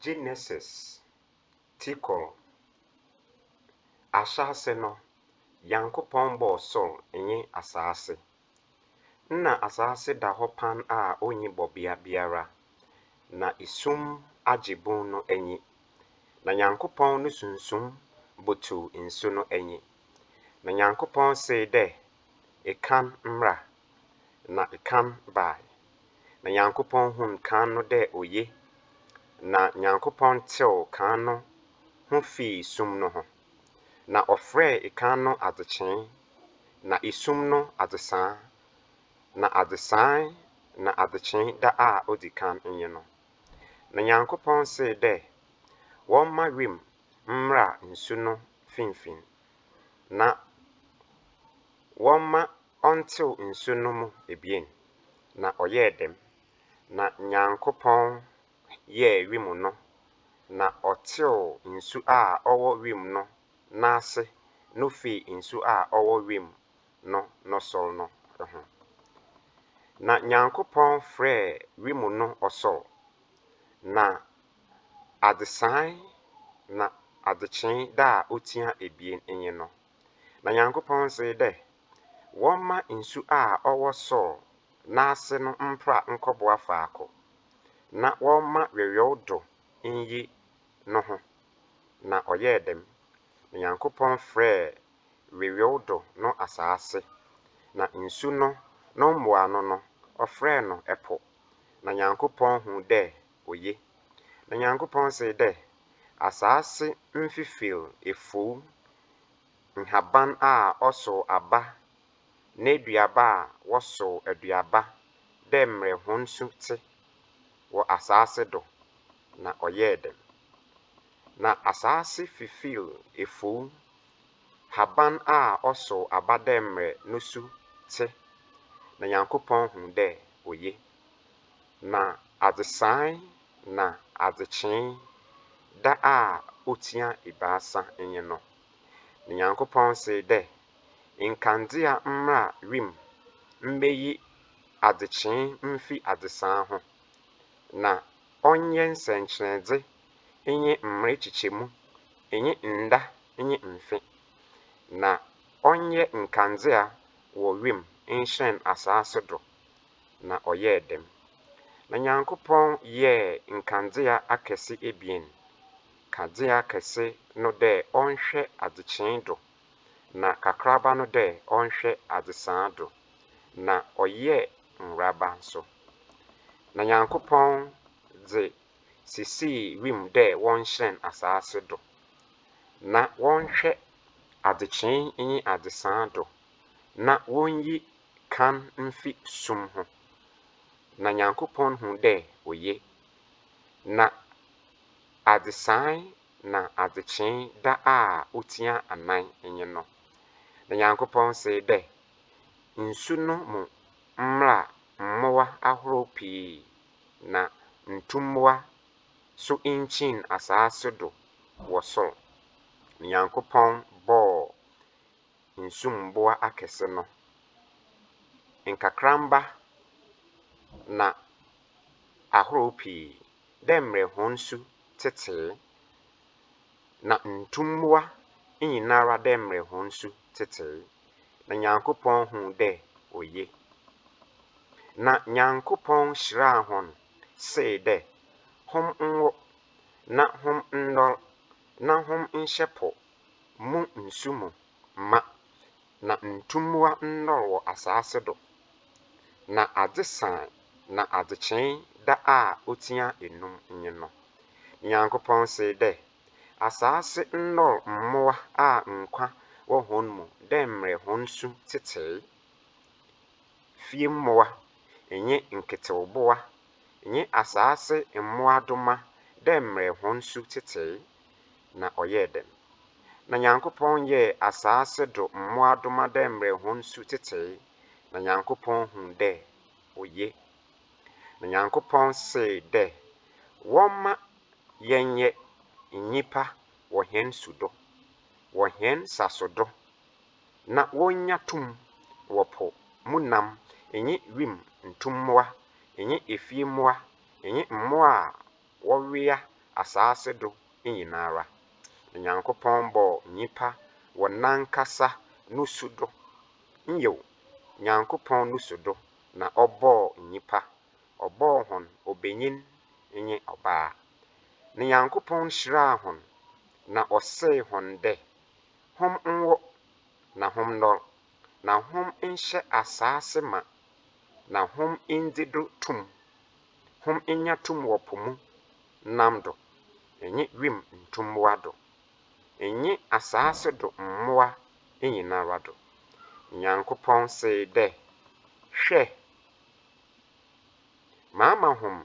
Genesis ti kor. Ahyɛase no, Nyankopɔn bɔɔ sor nye asaase. Nna asaase da hɔ pan a onnyi bɔbea biara, na sum agye bun no enyi. Na Nyankopɔn no sunsum butuw nsu no enyi. Na Nyankopɔn see dɛ kan mbra, na kan bae, na Nyankopɔn hun kan no dɛ oye, na Nyankopɔn tseew kan no ho fii sum no ho, na ɔfrɛɛ kan no adzekyee, na sum no adzesaa, na adzesaa na adzekyee da a odzi kan nye no. Na Nyankopɔn see dɛ wɔmma wimu mbra nsu no finimfin, na wɔmma ɔntsew nsu no mu ebien, na ɔyɛɛ dɛm. Na Nyankopɔn yɛɛ wimu no, na ɔtseew nsu a ɔwɔ wimu no n'ase no fii nsu a ɔwɔ wimu no no sor no ho. Na Nyankopɔn frɛɛ wimu no ɔsor, na Adesaan na adzekyee da a otsia ebien nye no, na Nyankopɔn dzee dɛ wɔmma nsu a ɔwɔ sor n'ase no mpra nkɔboa faako, na wɔmma weweɔw do nyi noho, na ɔyɛɛ dɛm. Na Nyankopɔn frɛɛ weweɔw do no asaase, na nsu no no mboano no ɔfrɛɛ no po, na Nyankopɔn hun dɛ Oye. Na Nyankopɔn see dɛ, Asaase mfifir efuw, nhaban a ɔsow aba, n'eduaba a wɔsow aduaba dɛ mbrɛ hɔn su tse wɔ asaase do, na ɔyɛɛ dɛm. Na asaase fifir efuw, haban a ɔsow aba dɛ mbrɛ no su tse, na Nyankopɔn hun dɛ oye. Na adzesae na adzekyee da a otsia ebiasa nye no, na Nyankopɔn see dɛ, Nkandzea mbra wimu mbeyi adzekyee mfi adzesae ho, na ɔnyɛ nsɛnkyerɛdze nye mber kyekyɛmu nye nda nye mfe, na ɔnyɛ nkandzea wɔ wimu nhyerɛn asaase do na ɔyɛɛ dɛm. Na Nyankopɔn yɛɛ nkandzea akɛse ebien, kadzea kɛse no dɛ ɔnhwɛ adzekyee do, na kakraba no dɛ ɔnhwɛ adzesaa do, na ɔyɛɛ nworaba so. Na Nyankopɔn dze sisii wimu dɛ wɔnhyerɛn asaase do, na wɔnhwɛ adzekyee nye adzesaa do. na wonyi kan mfi sum ho. Na Nyankopɔn hu dɛ oye, na adzesae na adzekyee da a otsia anan nye no. Na Nyankopɔn see dɛ, Nsu no mu mbra mbowa ahorow pii na ntumbowa so nkyin asaase do wɔ sor. Na Nyankopɔn bɔɔ nsu mmoa akɛse no, nkakramba na ahorow pii, dɛ mbrɛ hɔn su tsetsee, na ntumbowa nyinara dɛ mbrɛ hɔn su tsetsee, na Nyankopɔn hun dɛ oye. Na Nyankopɔn hyiraa hɔn see dɛ, Hom nwo, na hom ndɔr, na hom nhyɛ po Mo nsu mu ma, na ntummowa nnɔr wɔ asaase do, na adze saan na adzekyee da a otsia enum nye no. Nyankopɔn see dɛ, Asaase nnɔr mbowa a nkwa wɔ hɔn mu dɛ mbrɛ hɔn su tsetsee, fie mbowa nye nketsewbowa, nye asaase mbowadoma dɛ mbrɛ hɔn su tsetsee. na ɔyɛɛ dɛn? Na Nyankopɔn yɛɛ asaase do mbowadoma dɛ mbrɛ hɔn su tsetsee, na Nyankopɔn hun dɛ oye. Na Nyankopɔn see dɛ, Wɔmma yɛnyɛ nyimpa wɔ hɛn su do, wɔ hɛn saso do, na wonnya tum wɔ po mu nam nye wimu ntumbowa nye efie mbowa nye mbowa a Wɔwea asaase do nyinara, na Nyankopɔn bɔɔ nyimpa wɔ nankasa nusu do, nyew, Nyankopɔn nusu do na ɔbɔɔ nyimpa, ɔbɔɔ hɔn obanyin nye ɔbaa. Na Nyankopɔn hyiraa hɔn, na ɔsee hɔn dɛ, Hom nwo, na hom ndɔr, na hom nhyɛ asaase mã, na hom ndzi do tum, Hom nya tum wɔ po mu nam do, nye wimu ntumbowa do, nye asaase do mbowa nyinara do. Nyankopɔn see dɛ, Hwɛ, maama hom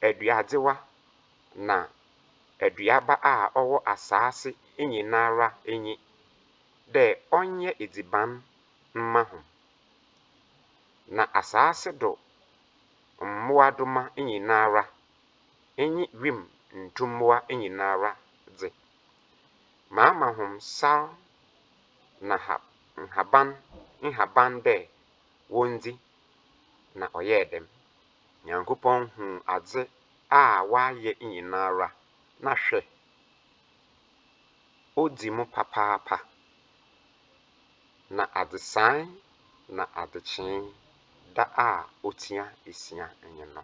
aduadzewa na aduaba a ɔwɔ asaase nyinara enyi, dɛ ɔnyɛ edziban mma hom, na asaase do mmoadoma nyinara nye wimu ntumbowa nyinara dze, maama hom sar na ha nhaban nhaban dɛ wondzi, na ɔyɛɛ dɛm. Nyankopɔn hun adze a ɔayɛ nyinara, na hwɛ, odzi mu papaapa. Na adzesae na adzekyee da a otsia esia nye no.